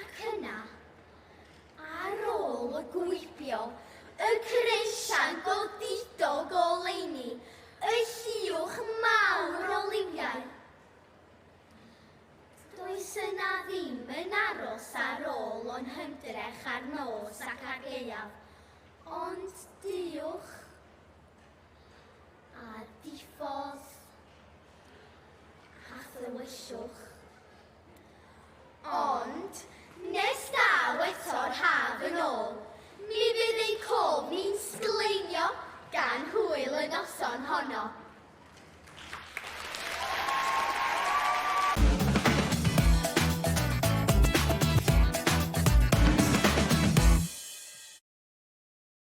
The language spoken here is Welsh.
Ac yna, ar ôl gwibio y creision godidog oleuni, y lliwch mawr o liwiau, does yna ddim yn aros ar ôl o'n hymdrech ar nos ac ar gaeaf, ond duwch a diffodd a thywyllwch. Ond, nes daw eto'r haf yn ôl, mi fydd ein cof ni'n sgleinio gan hwyl y noson honno.